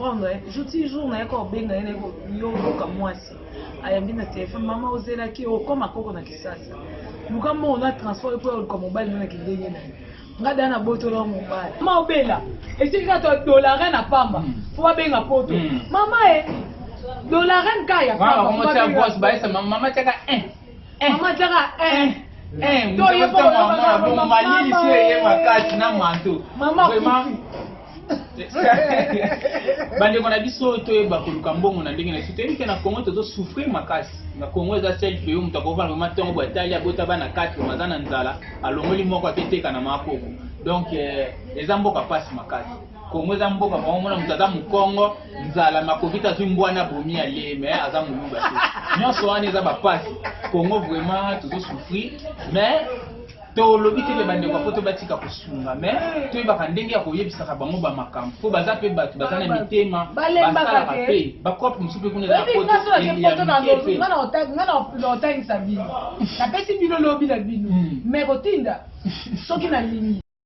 comprendre jour ti jour naye ko benga ye naye ko yo luka mwasi ayambi na telefone mama ozelaki okoma koko na kisasa luka mbongo na transport epo ya luka mobali nana kindenge na ye nga da nabotola mobali ma obela esiki kaka dolare na pamba hmm. fo babenga poto hmm. mama e eh, dolare nka ya pamba mama tiaka eh, eh. mama tiaka toyekoamalilisi eye makasi na manto mama bandeko na biso toyeba koluka mbongo na ndenge na biso toyebi ke na congo tozosouffrir makasi na congo eza sel pays moto akovanda vraimen ntongo boye atali abota bana 4 oyo aza na nzala alongoli moko aketeka na makoko donc eh, eza mboka mpasi makasi kongo eza mboka bango mona moto aza mokongo nzala makokita azwi mbwana bomi ya lee me aza moluba te nyonso wana eza bapasi kongo vraiment tozosouffrir mais tolobi te ke bandeko ya poto batika kosunga me toyebaka ndenge ya koyebisaka bango bamakambo mpo baza mpe bato baza na mitema basalaka mpe bakope mosusu mpe kuna ezaa otangisa bino napesi bino lobi na bino me kotinda soki nalingi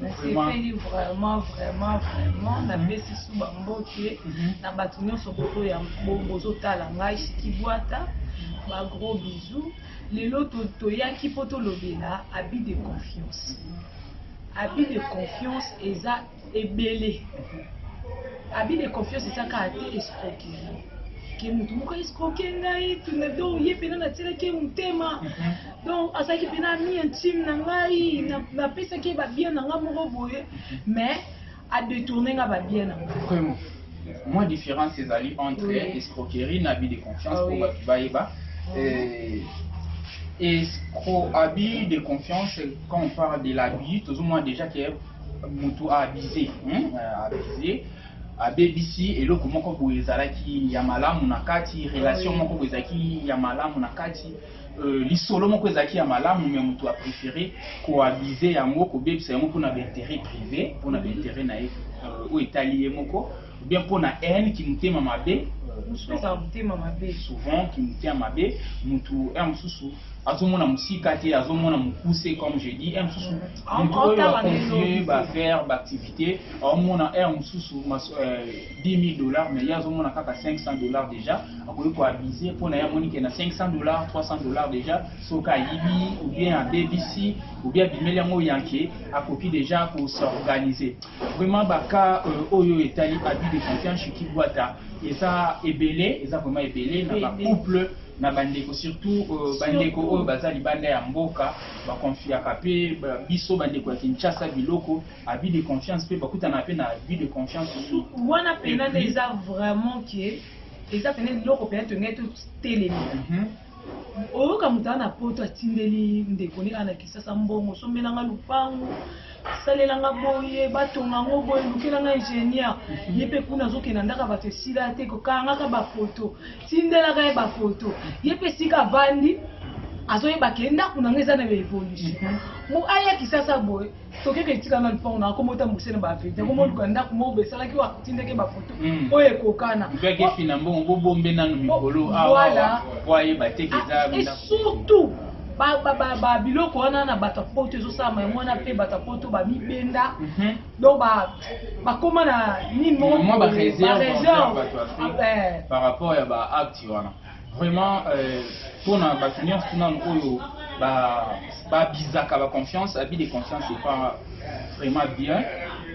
nasepeli vraiment vraiment vraiment napesi su bambote na bato nyonso boto ya bozotala ngai shikibwata bagros bisous lelo toyaki mpo tolobela abi de confiance abi de confiance eza ebele abi de confiance eza kaka te escroquerie ke motu moko escroke ngai tuna do ye mpena natyelaki ye motema donc azalaki mpena ami intime na ngai napesaki ye babien na ngai moko boye mais adetourne nga babien na ngai mwa différence ezali entre oui. escroquerie na abus de confiance mpo ah, oui. bato bayeba ah euh, escro abus de confiance quand on parle de l'abus tozomona déjà ke motu aabuse hein? abuse abebisi eloko moko boye ezalaki ya malamu na kati relation moko boye ezalaki ya malamu na kati lisolo moko ezalaki ya malamu mais mutu a prefere ko abuser yango kobebisa yango pona ba interet prive pona ba interet na ye oyo etali ye moko ou bien pona haine kimutema mabe souvent kimutema mabe mutu ya mosusu azomona mosika te azomona mokuse comme je dis ya mosusu mutu oyo acontinue ba faire ba activité aomona ya mosusu 10.000 dollars mais ye azomona kaka 500 dollars dejà akoki ko abuse mpo na ye amoni ke na 500 dollars 300 dollars dejà soki ayibi ou bien abebisi ou bien abimeli yango yanke akoki dejà ko s'organiser vraiment baka euh, oyo etali abus de confiance chez kibwata eza ebele eza vraiment ebele na ba couple na bandeko surtout euh, bandeko oyo baza libanda ya mboka bakonfiaka mpe biso bandeko ya kinshasa biloko abus de confiance pe bakutana pe na abus de confiance su wana pena nde eza vraiment que eza pena eloko pena tongai to telemi mhm. oyoka moto ana poto atindeli ndeko ne ana kisasa mbongo sombelanga lupangu salelanga boye batonga ngo boye lukelanga ingénieur mhm. ye mpe kuna azokenda ndaka bato esila te kokangaka bafoto tindelaka ye bafoto ye mpe esika avandi azoyeba ke ndako na nga eza na baevolution mo mhm. aya kisasa boye Soki eke etika nga lupango na akoma ota mukuse na ba vide akoma oluka ndaku moko be salaki wa tindeke ba photo mm. oyo ekokana mpe akesi na mbongo bo bombe nanu mikolo awa ah, po ayeba te keza ah, et surtout ba ba ba ba biloko wana na bato ya poto ezosalama yango wana mpe bato ya poto bamibenda mhm. donc bakoma na nini moko ba réserve eh. par rapport ya ba acte wana Vraiment, euh, pona bato nyonso nanu oyo babizaka ba baconfiance abi de confiance epa vraiment bien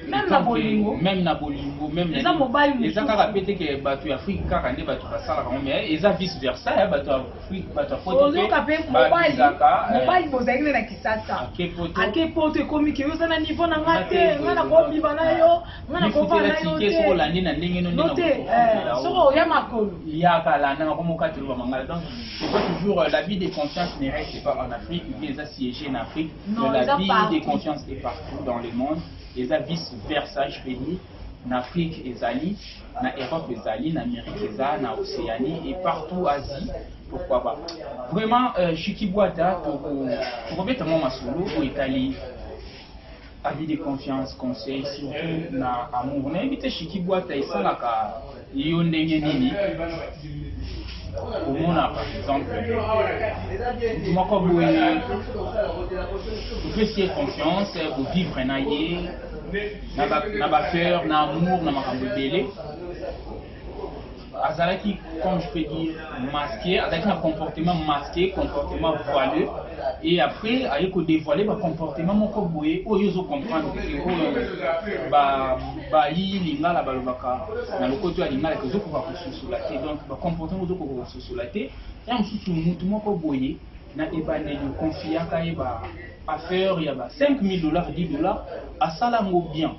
même na bolingo même na bolingo même eza mobali mosusu eza kaka pe te ke bato ya afrique kaka nde bato basalaka ngo mais eza vice versa ya bato ya afrique bato ya poto ozoka pe mobali eh. mobali bozali na kisasa ake poto ekomi ke yo oza na niveau na nga te nga na kobima na yo nga na kopa na yo te soko landi na ndenge no ndenge te eh, soko oya makolo ya kala na ko moka telo mangala donc c'est pas toujours euh, la vie des consciences ne reste pas en Afrique ou bien ça siégé en Afrique non, la vie partout. des consciences est partout dans le monde et ça vice versa je peux dire na Afrique ezali na Europe ezali na Amérique eza na Océanie et partout Asie pourquoi pas vraiment euh, Shiki Bwata tokobeta mwa masolo oyo etali Avis de confiance conseil surtout na amour nayebi te shiki bwata esalaka yo ndenge nini komona par exemple motu moko boye opesi ye confiance kovivre na ye na bafeur na amour na makambo ebele azalaki comme je peux dire masqué azalaki na comportement masqué comportement voileux et après aye ko dévoiler ba comportement moko boye oyo ozo comprendre que oyo ba ba yi lingala balobaka na lokoto ya lingala que ozokoka kososola te donc ba comportement ozokoka kososola te ya mosusu mutu moko boye na ebandeli okonfiaka ye ba affaire ya ba 5000 dollars 10 dollars asala yango bien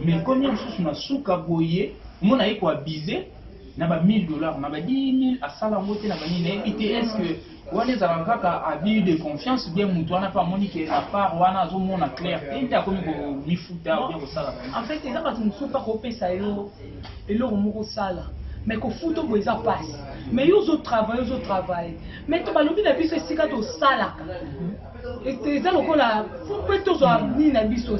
Mais comme ya mususu na suka boye, omona aye ko abuse na ba 1000 dollars na ba 10000 asala yango te na ba nini nayebi te est-ce que wana ezalaka kaka abus de confiance bien mutu wana mpe amoni ke na part wana azomona clair te nde akomi komifuta bien kosala en fait eza bato mosusu mpe akopesa yo eloko moko osala mais kofuta boye eza mpasi mais yo ozotravaille ozotravaille mais to balobi na biso esika tosalaka eza lokola mpe tozwa nini na biso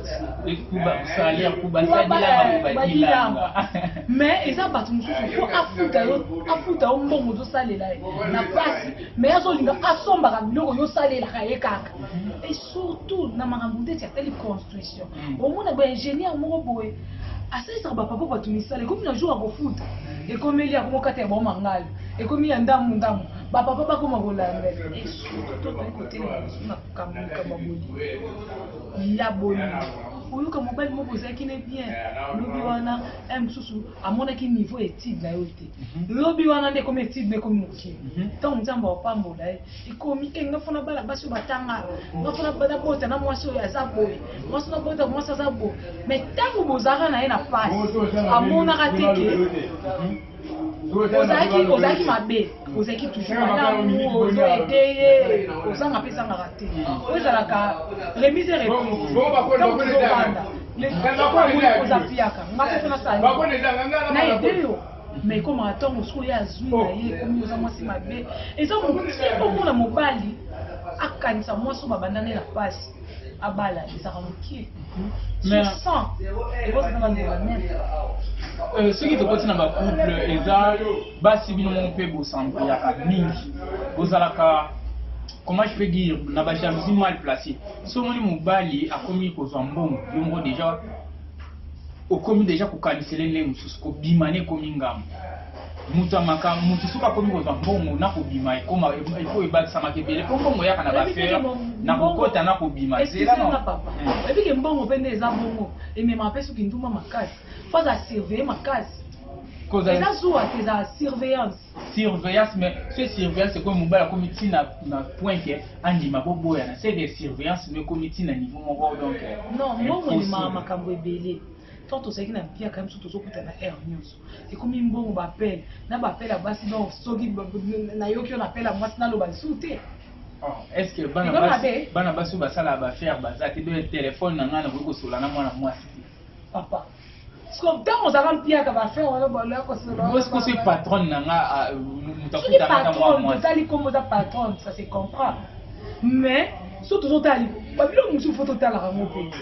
tibalilanga mais eza bato mosusu fo afuta yo afuta yo mbongo ozosalela ye na mpasi mais azolinga asombaka biloko yosalelaka ye kaka e surtout na makambo ndeti atali construction mm. omona ba ingénieur moko boye asalisaka bapapa bato misala ekomi na jour akofuta ekomeli akomokata ya baomangalo ekomi ya ndambu ndambu bapapa bakoma kolandela tokoki kotelema makambo likambo boye laboni oyoka mobali moko ozalaki ne bien lobi wana e mosusu amonaki niveau ya étude na yo te mhm. lobi wana nde ekomi étude na ekomi mokili mhm. ntango nzambe apambola ye ekomi e nga fona bala basi oyo batanga nga fona nabota na mwasi oyo aza boye mwasi nabota mwasi aza boye mais ntango bozalaka na ye na pasi amonaka te ke mhm. ozalaki ozalaki mabe ozalaki toujours malamu ozo ete ye ozanga mpe ezangaka te oyo ezalaka remise reponseobanda oza fiaka nga mpe mpe nasali na ete yo mais ekomaka ntango mosusu oyo azwi na ye ekomi oza mwasi mabe eza mokomona mobali akanisa mwasi oyo babandani na mpasi abala ezaka moke euh, soki tokoti na bacouple eza basi bino moko mpe bosangoyaka mingi bozalaka comment je peux dire na bajalousie mal placé so omoni mobali akomi kozwa mbongo yo moko déjà okomi déjà kokanisele ndenge mosusu kobima ne ekomi ngambo moto ya makambo moto soki akomi kozwa mbongo na kobima ekoma efo ebakisamaka ebele mpo mbongo eyaka na bafere na kokota na kobima ezelana papa ebike hmm. mbongo mpe nde eza bongo ememaka mpe soki nduma makasi mpo aza surveille makasi eza zuwa te eza surveillance surveillance mais ce surveillance ekomi mobali akomi ti na point ke andima boboyana seke surveillance nde ekomi ti na niveau moko donc non mbongo ememaka makambo ebele tant tozalaki na mpiaka biso tozokutana heure nyonso ekomi mbongo bapele na bapela basi donc soki nayoki yo napela mwasi naloba lisusu te oh, est ce que bana basi oyo basalaka bafaire baza te be telefone na ngai nakoki kosola na mwana mwasi te papa ntango ozalaka mpiaka bafaire wanaosi patronne na nga ah, moto akutaka ozali nkombo oza patronne ça se comprend mais so tozotala babilo mosusu fo totalaka yango mpe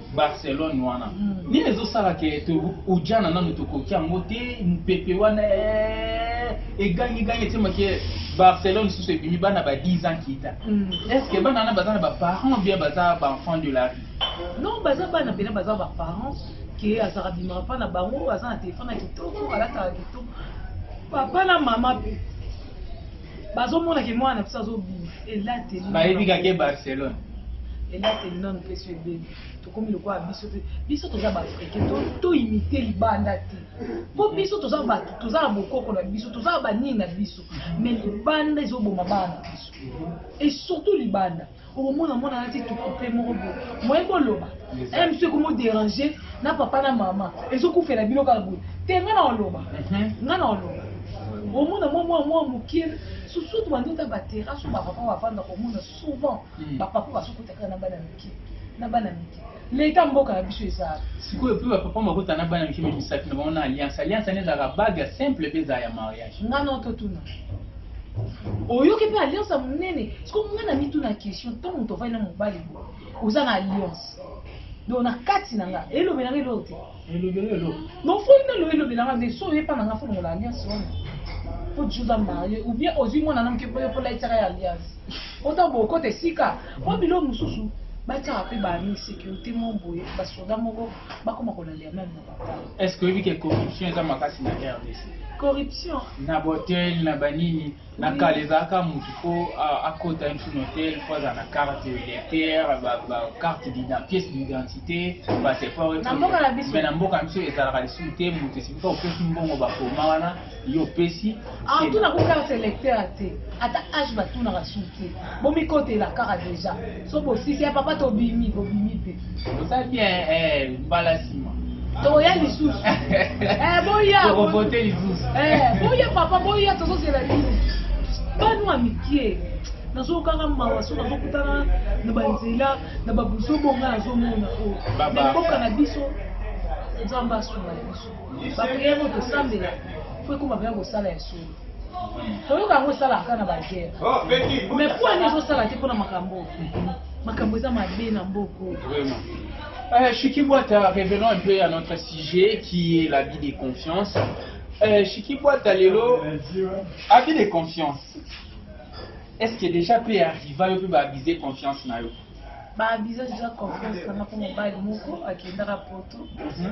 Barcelone wana mm. nini ezosala ke ojana nanu tokoki yango te mopepe wana eh, egangigangi etyema ke barcelone lisusu ebimi bana ba 10 ans kita mm. est ce que bana wana baza na baparent bien baza baenfant de la rue non baza bana mpena baza baparent ke azalaka bimaka mpa na bango aza na telefone ya kitoko alataka kitoko papa na mama bazomona ke mwana na biso azobima elateli bayebi kake barcelone elateli nano mpe so ebeli tokomi lokola biso te biso toza baafrike toimite libanda te mpo biso toza bato toza na bokoko na biso toza na banini na biso mai libanda ezoboma bana na biso e surtout libanda okomona mwana alati tukupe moko boye moye koloba eh, msu ekomo dérange na papa na mama ezokufela bino kaka boye te nga na oloba mhm. nga na oloba omona mwa mwa mwa moke susutu bandota baterrasse oyo bapapa bafanda komona souvent hmm. bapapa basokota kaka na bana mike na bana mike Leta mboka na biso eza wapi? Sikoyo pe ba papa makota na bana mike me misapi na bango na alliance. Alliance wana ezalaka bague ya simple pe ezala ya mariage. Nga na ototuna. Oyoki pe alliance ya monene. Sikoyo nga na mituna question ntango moto avandi na mobali oza na alliance. Donc na kati na nga elobela nga eloko te. elobela eloko donc fo nde loye elobela nga mais so oye pa na nga fo longola alliance wana po juza marie ou bien ozwi mwana na moke po yo po laitiaka ya alliance ota bokota esika po bilo mosusu batyaka mpe baami sécurité moko boye basoda moko bakoma kolalela meme na papa est ce que oyebi ke corruption eza makasi na rdc corruption na botel na banini Na kala ezalaka mutu po akota une na hotel faut azala na carte lecteur ba ba carte d'identité pièce d'identité passeport et tout mais na mboka biso ezalaka lisusu te mutu esika opesi mbongo ba koma wana yo opesi ah tuna ko carte lecteur te ata age ba tuna ka suki bomikotela kaka deja soki bosisi ya papa tobimi bobimi mpe oza bien eh, mbala nsima toya lisusu eh, boya tokovote lisusu eh, boya papa boya tozozela bino banu ya mikie nazokanga mawa so nazokutana na banzela na babuzobo ngai nazomona oyo mboka na biso nzambe asunga biso bapriere oyo tosambela fo ekoma mpenza kosala ya solo oyoka yango esalaka kaka na bagere oh, mais po ani ezosala te mpo na makambo makambo eza mabe na mboko Euh, Chiki Boita, revenons un peu à notre sujet qui est la vie de confiance. Euh, Chiki Boita, Lelo, avis de confiance. Est-ce que déjà peut arriver, peut abuser confiance na yo? baabisa déjà confiance na mpo mobali moko akendaka poto mhm.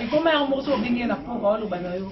ekoma yango moko so obenge na poko aoloba na yo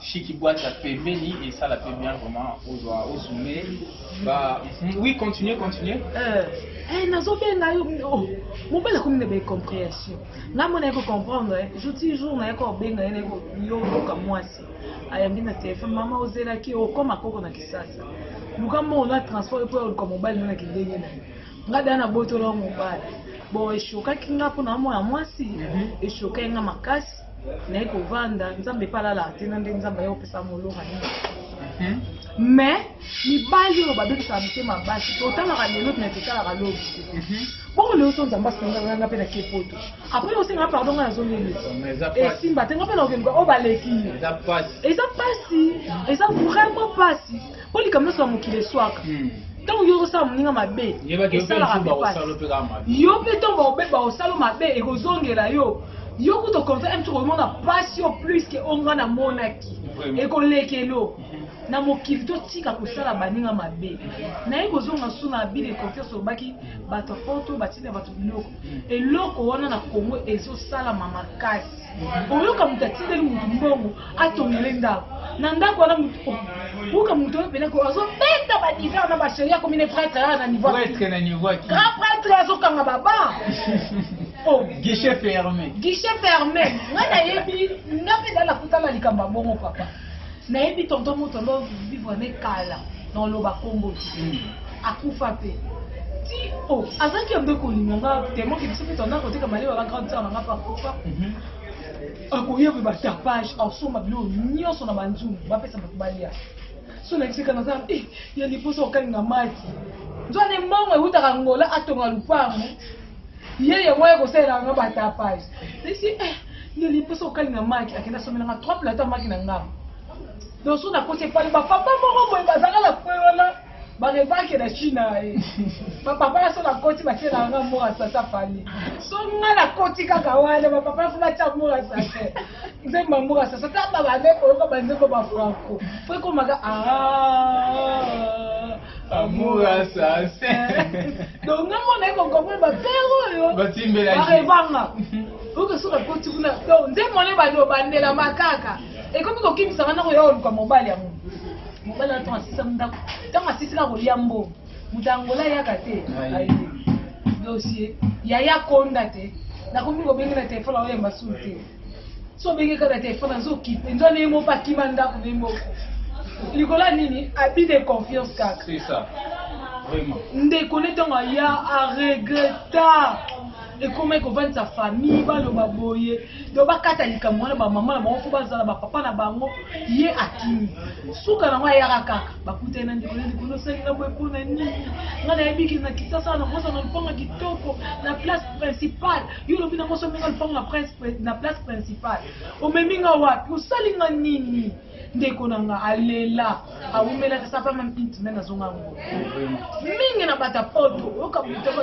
Shiki boîte ya pembeni et ça la fait bien vraiment au doigt au sommet. Bah oui, continuez, continuez. Euh, eh nazo benga yo oh, mobala comme ne compréhension. Na mona ko comprendre, eh, je dis jour na ko benga ene ko yo ka mwasi. Ayambi na téléphone maman ozela ki okoma koko na kisasa. Luka mo na transport pour ko mobali na ki ndenge na. Nga dana botolo mobali. Bon eshokaki nga mpona mwana mwasi mhm. eshokaki nga makasi naye kovanda nzambe epa alalaka te na nde nzambe aye kopesa moloka nini mhm. mais mibali oyo babebisaka mitema basi totalaka lelo me totalaka lobi mhm. bongo lelo so nzambe asenganga mpe na ke poto apres osengaa pardon ngai nazongeli esimba te nga mpe naokeluka oyo baleki eza mpasi eza vraiment mpasi po likambo nyonso ya mokili eswaka ntango yo ozosala moninga mabe esalaka mpe pasi yo mpe ntango bakobeba osalo mabe ekozongela yo yo kutu okonfere mpe okomona pasi yo plus ke oyo ngai namonaki ekolekelo na mokili totika kosala baninga mabe naye kozonga su na abile confiance olobaki bato ya poto batinda bato biloko eloko wana na congo ezosalama makasi oyoka moto atindeli moto mbongo atongele ndako na ndako wana buka moto oyo mpena azobeta badiver na baseri akomi ne pretre aa na niveau grand pretre azokanga baba oh. guichet ferme guichet ferme ngai nayebi nga mpe dala kutala likambo ya bongo papa nayebi tonton moto ando vivre na ye kala na oloba kombo hmm. akufa mpe ti o oh, azalaki ya mbe kolinga nga temo ke biso mpe tanda koteka maleba ba grande sœur na nga mpe akufa mhm. akoya mpe batapage asomba biloko nyonso na banzungu bapesa bato balia so nayebisaka naza eh, ya liposa okalinga mati nzwa ne mbongo eutaka ngola atonga lupango ye yango ya kosalela nga batapage esi eh, yeli mposa okalinga maki akenda somela nga trois plata maki na nga donc so nakoti epali bapapa moko boye bazanga na kwe wana barebake na china ye eh. bapapa ya so nakoti batielanga mora sasa fali so nga nakoti kaka wana bapapa ya fo batia mora sasa nzembo yango basasa ta babande koyoka banzembo ba franco po ekomaka amour assassin donc nga mona ye kokomprene bapere oyo barebanga oyoka soki akoti kuna donc nzembo wana ebandi obandela makaka ekomi kokimisa nga na koya oluka mobali yango mobali wana ntango asisa ndako ntango asisi na kolia mbongo moto ya angola ayaka te dossier yaya konda te nakomi kobenge na telefone aoyamba sulu te so obenge kaka na telefone azokipe nzo ndenge moko akima ndako ndenge moko likolo ya nini abus de confiance kaka ndeko ne ntango aya aregreta ekomaki kovandisa famille baloba boye donc bakata likambo wana bamama na bango fo bazala bapapa na bango ye akimi suka nango ayaka kaka bakutani na ndeko na ndeko nosali na boye mpona nini ngai nayebiki na kisasa na kosa na lupanga kitoko na place principale yo olobi na kosa omenga lupanga na place principale omemi nga wapi osali nga nini ndeko na nga alela awumelaki sapama mpinti me nazonga yango mingi na bata poto oyoka butaba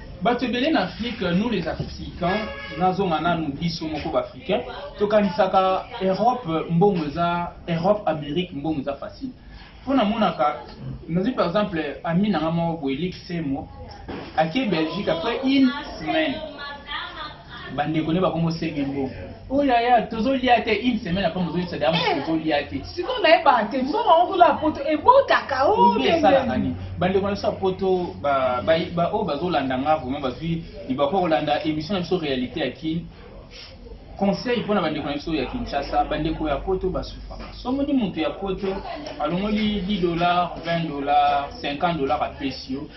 Bato ebele na Afrique, nous les Africains, nazonga nanu biso moko ba Africains, tokanisaka Europe mbongo eza Europe Amerique mbongo eza facile. Mpo namonaka nazwi par exemple ami na ngai moko boye Luc Semo ake Belgique après une semaine ba ndeko ne bakomo senge mbongo oyo oh, aya tozolia te une semaine apres mozoyebisa daya mosusu eh, tozolia te sikoyo nayeba te mbongo yango kuna ya poto ebotaka oyo esalaka nini bandeko na biso ya poto oyo bazolanda nga vraimen bazwi libako kolanda émission na biso réalité ya kin conseil mpo na bandeko na biso ya kinshasa bandeko ya poto basufaka somoni moto ya poto alongoli 10 dollar 20 dollar 50 dollar apesi yo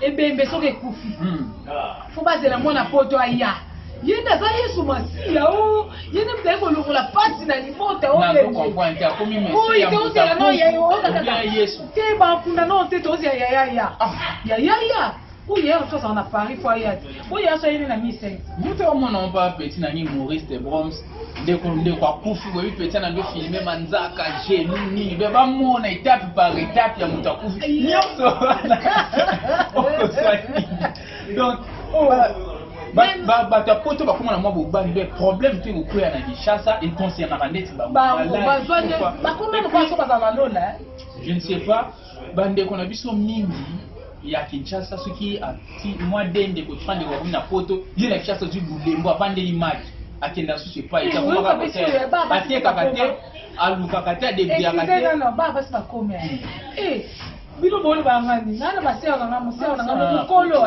ebembe soki ekufi fo bazela mwana poto aya ye nde aza yesu masiya o oh. ye nde mizali kolongola mpasi na libota oyokoyi oh, tozela no yesu te bakunda no te tozela yayaya ah. yayaya oyo yaya mosusu azala na paris fo aya te oyo yaya so ayeli na misai moto omona mpo apeti na ngi maurice de broms ndeko ndeko akufi boyebi mpenza na nde filme manzaka genu nini be bamona etape par etape ya moto akufi nyonso wana okoswaki donc oh, bato ya poto bakoma na mwa bobani be problème mpe kokwea na kinshasa econcerna bandeti bango bazwa nde bakoma lokola so bazala na lola je ne sais pas Ba ndeko na biso mingi ya Kinshasa soki ati mwa de ndeko twa ndeko akomi na poto ye na Kinshasa ozwi bulembo avandeli maki akenda lisusu epai akomaka kotere atekaka te alukaka te adebiaka te bino boloba ngani nana baseo na nga moseo na nga mokolo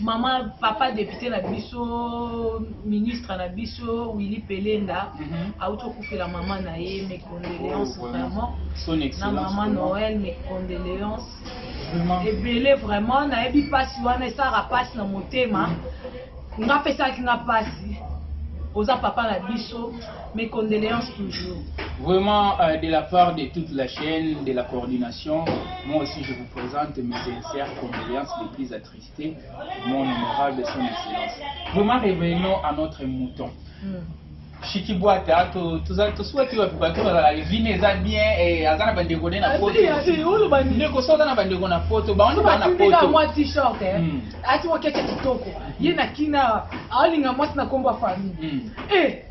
Maman, papa député na biso, ministre na biso, Willy Pelenda, mm -hmm. a autocoupé la maman na ye, mes condoléances oh, vraiment. Son excellence. Na maman Noël, mes condoléances. Vraiment. Et belé vraiment, na ebi pasi wana, ça rapasse na motema. Nga pesaki nga pasi. Oza papa na biso, Mes condoléances toujours. Vraiment, euh, de la part de toute la chaîne, de la coordination, moi aussi je vous présente mes sincères condoléances les plus attristées, mon honorable son excellence. Vraiment, revenons à notre mouton. Mm. shikibwata tosuwaki bato bato bazala vine eza bien eh, aza na bandeko ne na ah, potondeko so aza na bandeko na poto bango baa na poto mwa t-shirt eh. hmm. ati mwa keke kitoko ye na kina aolinga mwasi na nkombo ya famille hmm. eh,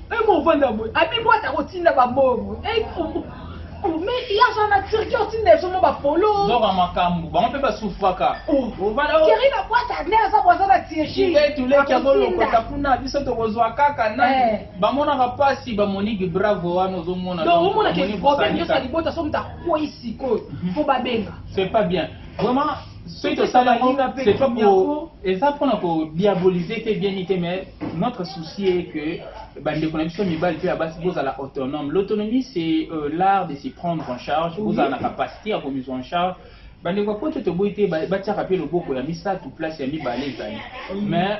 Eh mon vanda boy, abi moi ta kotinda ba bongo. Eh Oh, mais il y a genre la Turquie au tine zo ba polo. Zo ba makambu, ba mpe ba souffraka. Oh, voilà. Oh. Kiri na boîte à nerfs za boza na Turquie. Ngai tu leki azo lokota kuna biso to kozwa kaka na. Eh. Ba mona ka pasi ba moniki bravo wana ozo mona. Donc omona ke problème yo sa libota so mta kwisi ko. Faut ba benga. C'est pas bien. Vraiment soki tosali yango c'est pas pour eza pona ko diaboliser te bien te mais notre souci est que bandeko na biso mibali mpe ya basi bozala autonome l'autonomie c'est euh, l'art de s'y prendre en charge bozala na capacité ya komizwa en charge bandeko ya poto toboyi te batiaka mpe loboko ya misato place ya mibale ezali mais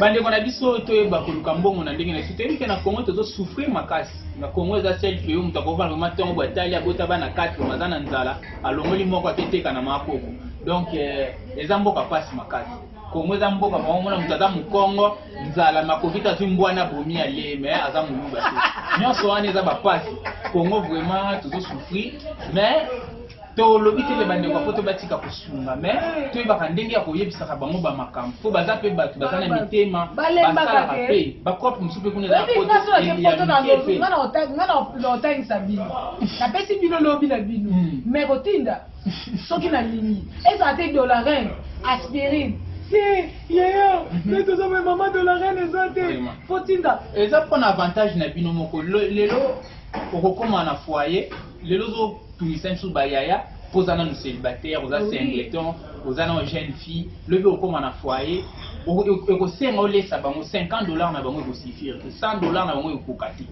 bandeko na biso toyeba koluka mbongo na ndenge na biso toyebi ke na congo tozosouffrir makasi na congo eza sel pays moto akovanda vraimen ntongo bo atali abota bana 4 oyo aza na nzala alongoli moko aketeka na makoko donc eh, eza mboka mpasi makasi kongo eza mboka moko mona moto aza mokongo nzala makokita azwi mbwana bomi ya lee me aza moluba te nyonso wana eza bapasi kongo vraiment tozosouffrir mais tolobi te ke bandeko ya poto batika kosunga me toyebaka ndenge ya koyebisaka bango bamakambo mpo baza mpe bato baza na mitema basalaka mpe bakope mosusu mpe kuna naotangisa bino napesi bino lobi na bino hmm. me kotinda soki nalingi ezala te dolarin aspirine te yeyo nde toza me mama dolarin eza te fotinda eza mpona avantage na bino moko lelo okokoma na foyer lelo Tungisa biso ba yaya po oza nanu celibataire oza singleton oza nanu jeune fille lobi okokoma na foyer ekosenga olesa bango 50 dollars na bango ekosifire te 100 dollars na bango ekokoka te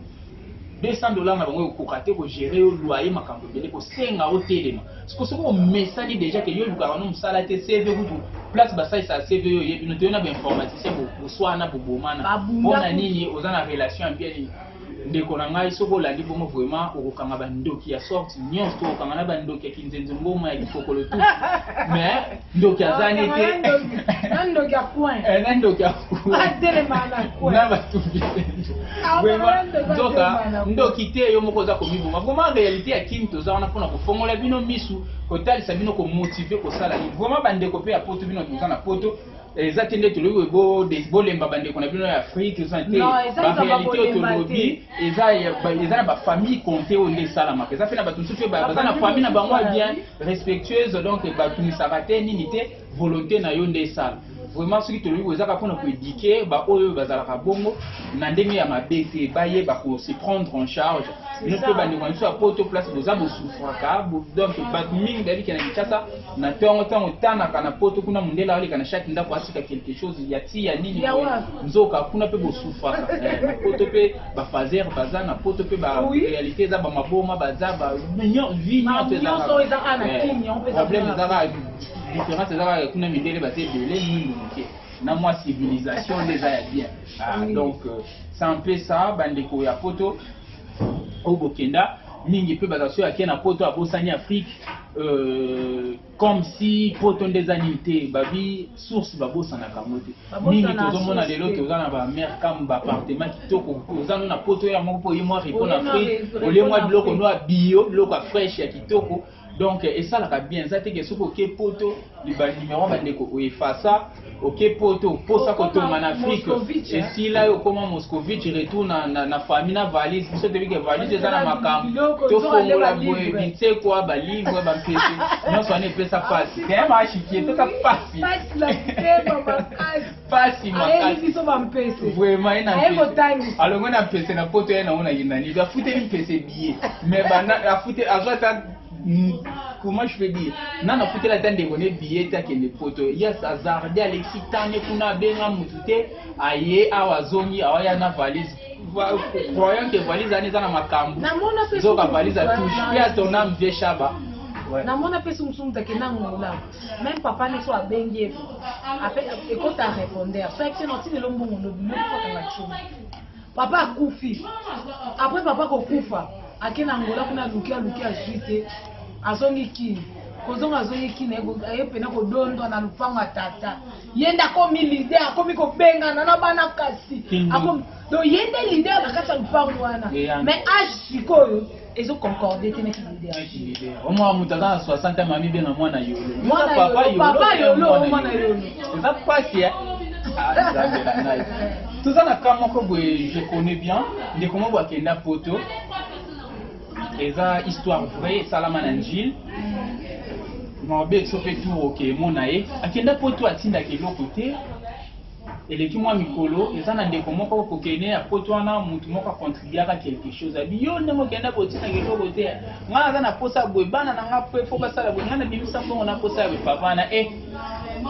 200 dollars na bango ekokoka te kogere yo loyer makambo ebele kosenga otelema siko soki omesani deja ke yo olukaka no mosala te cv kutu place basalisaka cv yo oyebi no toyo na bainformaticien boswana bobomana mpo na nini oza na relation ya bien nini Ndeko na ngai soki olandi bongo vraiment okokanga ba ndoki ya sorte nyonso to okanga na ba ndoki ya kinzenzo ngoma ya kikokolo tout. Mais ndoki azani te. Na ndoki ya coin. Eh na ndoki ya coin. Ba tele mana coin. Na ba tubi. Ah, vraiment ndoka ndoki te yo moko za ko miboma. Vraiment réalité ya Kim toza wana pona ko fongola bino misu kotalisa bino ko motiver kosala. Vraiment ba ndeko pe ya poto bino toza na poto. eza te nde tolobi boye bolemba bandeko na bino ya afrike eza te barealité oyo tolobi eza na bafamille compte oyo nde esalamaka eza mpe na bato mosusu baza na famille na bango bien respectueuse donc batunisaka te nini te volonté na yo nde esala vraiment soki tolobi boye ezaka mpona koedike baoyo bazalaka bongo na ndenge ya mabe te bayeba kose prendre en charge bino mpe bandeko na biso ya poto place boza bosufraka donc bato mingi bayebikena kinshasa na tongo ntango tanaka na poto kuna mondele aleka na chaque ndako asika quelque chose ya ti ya nini nzoka kuna mpe bosufaka eh, na poto mpe bafazer baza na poto mpe barealité eza bamaboma baza vie nyonso ezaproblème eh, ezaka différence ezaka kuna mindele baza ebele mingi moke na mwa civilisation nde eza ya bien ah, donc euh, ça mpe ça bandeko ya poto oyo bokenda mingi pe baza soki ake na poto abosani afrique euh, comme si poto nde eza nini te babi source babosanaka yango te mingi tozomona lelo toza na bamare kam baappartement kitoko oza no na poto yango mpo oye mwa repo na afrique olie mwa biloko no ya bio biloko ya fraîche ya kitoko donc esalaka bien eza teke soki oke poto banimero bandeko oefasa oke poto mposa kotonga na afrike esila yo okoma moscovitch retour na, na, na famille na valise biso toyebi ke valise eza na makambo tofongola boye binsekwa balivre bampese nyonso wana epesa mpasi temaashiki epesa mpasi pasi makasi biso ba mpese vraiment ena aye kotangisa alongo na mpese na poto ye nango na yinani afuteli mpese biye mais bana afute azwa ata comment je peux dire nana afuteli ata ndeko ne biye te akende poto ye azarde alexi tane kuna abenga motu te aye awa azongi awaya na valise croyant que valise ani eza na makambo zoka valise atouche pe atonam vie shaba namona mpe sumusumu take nangola Même papa ne soit bengue. Après, et quand t'as répondu, soit que non, tu ne l'homme bon, on oublie pas qu'on a chou. Papa a koufi. Après, papa ko koufa. Ake na Angola, kuna luki a luki a juite. Azongi ki. kozonga azoyi kina aye pena kodondwa na lupango ya tata ye nde akomi lide akomi kobengana na bana kasi do ye nde lide na kati ya lupango wana mais age sikoyo ezo concorde te na ki leader na ki leader omwa mutu aza na 60 ans mami benga mwana yolo mwana papa yolo papa yolo mwana yolo eza pasi ya toza na cas moko boye je connais bien ndeko moko akenda poto eza histoire vraie esalama na njile mabe sope tour oke emona ye akenda poto atindaka eloko te Eleki mwa mikolo, eza na ndeko moko kokene ya poto wana, mutu moko a contribuaka quelque chose, abi yo ndenge okenda boye otinaka eloko te, ngai naza na posa ya boye, bana na ngai après il faut basala boye, ngai nabimisa mbongo na posa ya boye, papa wana eh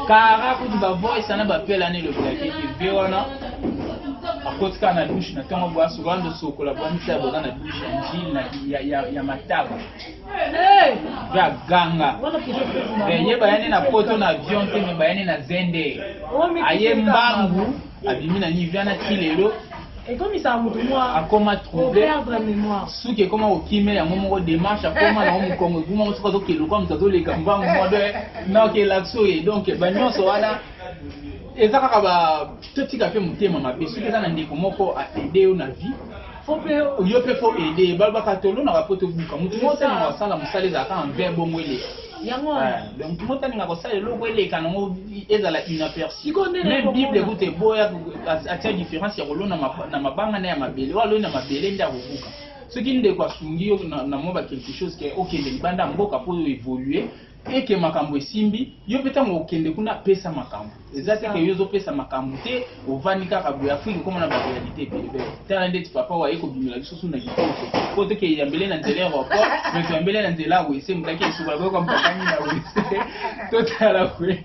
kara kutu ba voice wana ba appel wana elobelaki ete vie wana akoti kaka na douche na ntongo boye asokola ndosokola boya misala boza na douche ya njili ya mataba ya ganga eh, ye bayani na poto na avion te me bayani na zende aye mbangu abimi na nivea na ti lelo ekomisaka moto mwa akoma trouble suki ekoma kokime yango moko démarche akoma nango mokongo ekuma ngo soki azokende lokola moto azoleka mbangu mwa de naokelakso ye donc banyonso wana eza kaka ba totika mpe motema mabe soki eza na ndeko moko asede yo na vie Faut pe yo pe faut aider balobaka tolonaka po tobuka motu moko tana kosala mosala ezalaka en vain bongo eleka yango donc moko talinga kosala eloko eleka nango ezala inaperçu même bible kuta eboya atia différence ya kolona na mabanga na ya mabele oyo aloni na mabele nde akobuka soki ndeko asungi yo na mwa ba quelque chose ke okende libanda ya mboka mpo oyo evolue te que makambu esimbi yo pe tango okende kuna pesa makambu eza te que yo ozo pesa makambu te ovandi kaka boye afrique ekoma na ba realite ebele bele tala ndeti papa wa ye ko bimela biso suna kitoko po to ke yambele na nzela aeroport mais to yambele na nzela wese mutaki esuka ko ko mpakani na wese to tala kwe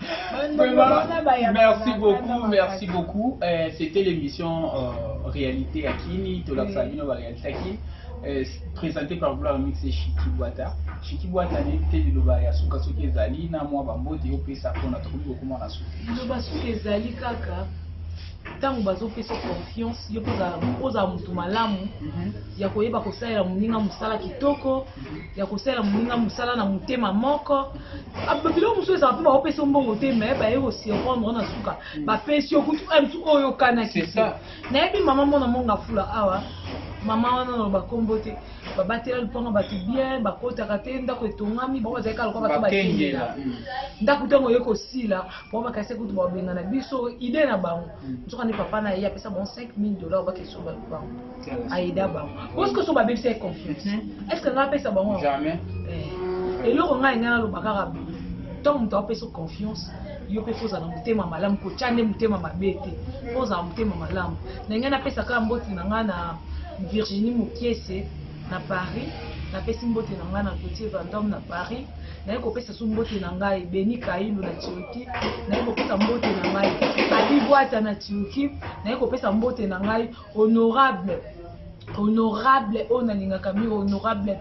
Vraiment, merci beaucoup, merci beaucoup. Euh, C'était l'émission euh, Réalité à Kini, Tola Sabino, la réalité à Kini, euh, présentée par Gloire Mix et Shiki Boata. Shiki Boata, n'était de l'Oba Yasuka Suke Zali, na moi, Bambo, Théo Pessa, qu'on a trouvé beaucoup moins à Suke. L'Oba Suke Zali, Kaka. ntango bazopesa confiance yo mpe ozala motu malamu mhm. ya koyeba kosalela moninga mosala kitoko ya kosala moninga mosala na motema moko ah, biloko mosusu ezala mpe baopesa mbongo te me baye kosurprendre na suka hmm. bapesi yo kutu eh, mosusu oyo okanaki nayebi mama mona monga fula awa mama wana naloba nkombo te babatela lopango bato bien bakotaka te ndako etongami bango bazalaki aloka bato bakengela hmm. ndako ntango oye kosila bango bakasi kutu babengana biso ide na bango hmm. nzoka nde papa na ye apesa bango 5000 dollar bakesomba lopango aida bango parce que so babebisa ye confiance est ce que nga apesa bango jamais eh, eloko ngai ngai naloba kaka ntango moto apesa confiance yo mpe fo ozala motema malamu kotya nde motema mabe te mpo ozala motema malamu na ngai napesa kaka mboti na ngai na virginie mokiese na paris napesi mbote na ngai na petit vandome na paris naye kopesa so mbote na ngai beni kailu na turki naye kopesa mbote na ngai abibwata na turki naye kopesa mbote na ngai honorable honorable oyo nalingaka mingi honorable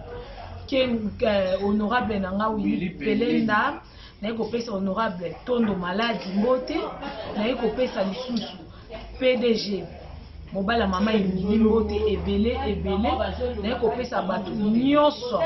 euh, honorable na nga wili pelenda naye kopesa honorable tondo maladi mbote naye kopesa lisusu pdg mobali ya mama emili mbote ebele ebele naye kopesa bato nyonso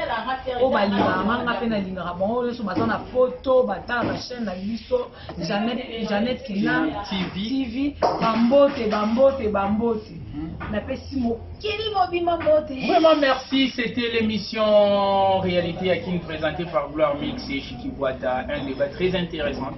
oyo balingaka nga nga mpe nalingaka bango nyonso baza na poto batalaka chaîne na biso Janet, Janet Kinam TV, TV bambote bambote bambote hmm. napesi mokili mobima mbote vraiment merci c'était l'émission réalité à kin présentée par gloire mix et chikibuata un débat très intéressant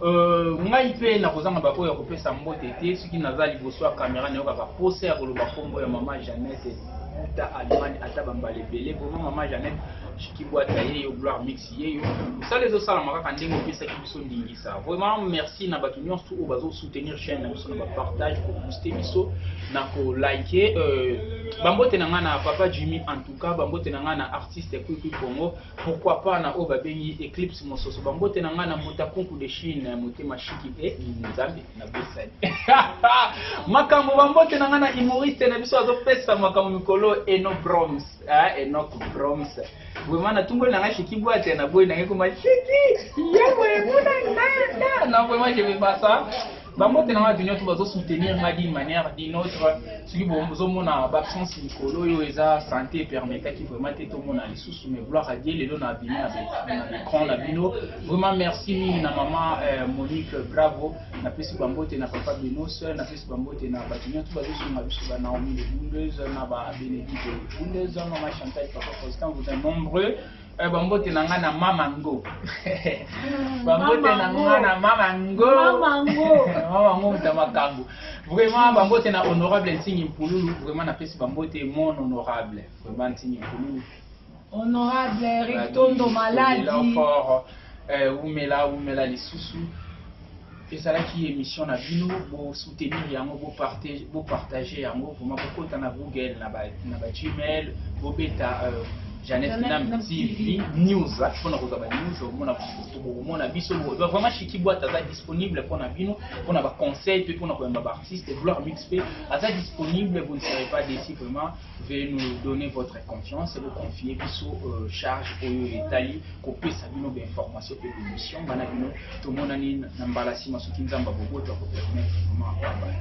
euh, ngai mpe nakozanga baoyo ya kopesa mbote te soki naza liboso ya kamera nayokaka posa ya koloba nkombo ya mama janete uta allemagne ata bambala ebele bongo mama janete chikibuata ye yo gloire mix remercier yo mosala ezosalama kaka ndenge opesaki biso ndingisa vraiment merci na bato nyonso oyo bazosoutenir chaîne na biso na bapartage kobooste biso na kolike euh, bambote na ngai na papa jimmy en tout cas bambote na ngai na artiste kwikwi congo pourquoi pas na oyo babengi eclipse mososo bambote na ngai na mbotakunku de chine motema shiki e nzambe na bosani makambo bambote na ngai na humoriste na biso azopesa makambo mikolo eno broms eh, enoc broms Vraiment na tumboli na ngai Chiki Boite na boyi na ngai koma Chiki yebo emuna nanda na vraiment je vais pas ça bango te na ngai bino to bazo soutenir ngai d'une manière d'une autre soki bozomona baabsence likolo oyo eza santé epermetaki vraiment te tomona lisusu mais gloire à Dieu lelo na bino na écran na bino vraiment merci mingi na maman euh, Monique bravo napesi bambote na papa binos napesi bambote na bato nyonso bazosunga biso ba naomi de bundeuse na ba benedite bundeuse mama chantal papa constant vous êtes nombreux eh, bambote na ngai na mama ngo bambote na ngai na mama ngo mama ngo moto ya makambo vraiment bambote na honorable nsingi mpululu vraiment napesi bambote mon honorable vraiment nsingi mpululu Honorable Eric Tondo Maladi. Eh, wumela wumela lisusu ezalaki émission na bino bosoutenir yango bopartage yango vraimen bokota na google na bagmail bobeta euh, Jeannette Nam TV News mpona kozwa ba news omona bokomona biso vraiment Chiki Boite aza disponible mpona bino mpona ba conseil mpe mpona koyamba ba artiste Gloire Mix mpe aza disponible vous ne serez pas déçu vraiment Veuillez nous donner votre confiance, vous confier biso euh, charge oyo etali kopesa bino ba information mpe bemission bana bino tomonani na mbala nsima soki nzambe boboto akopermettre vraiment abaya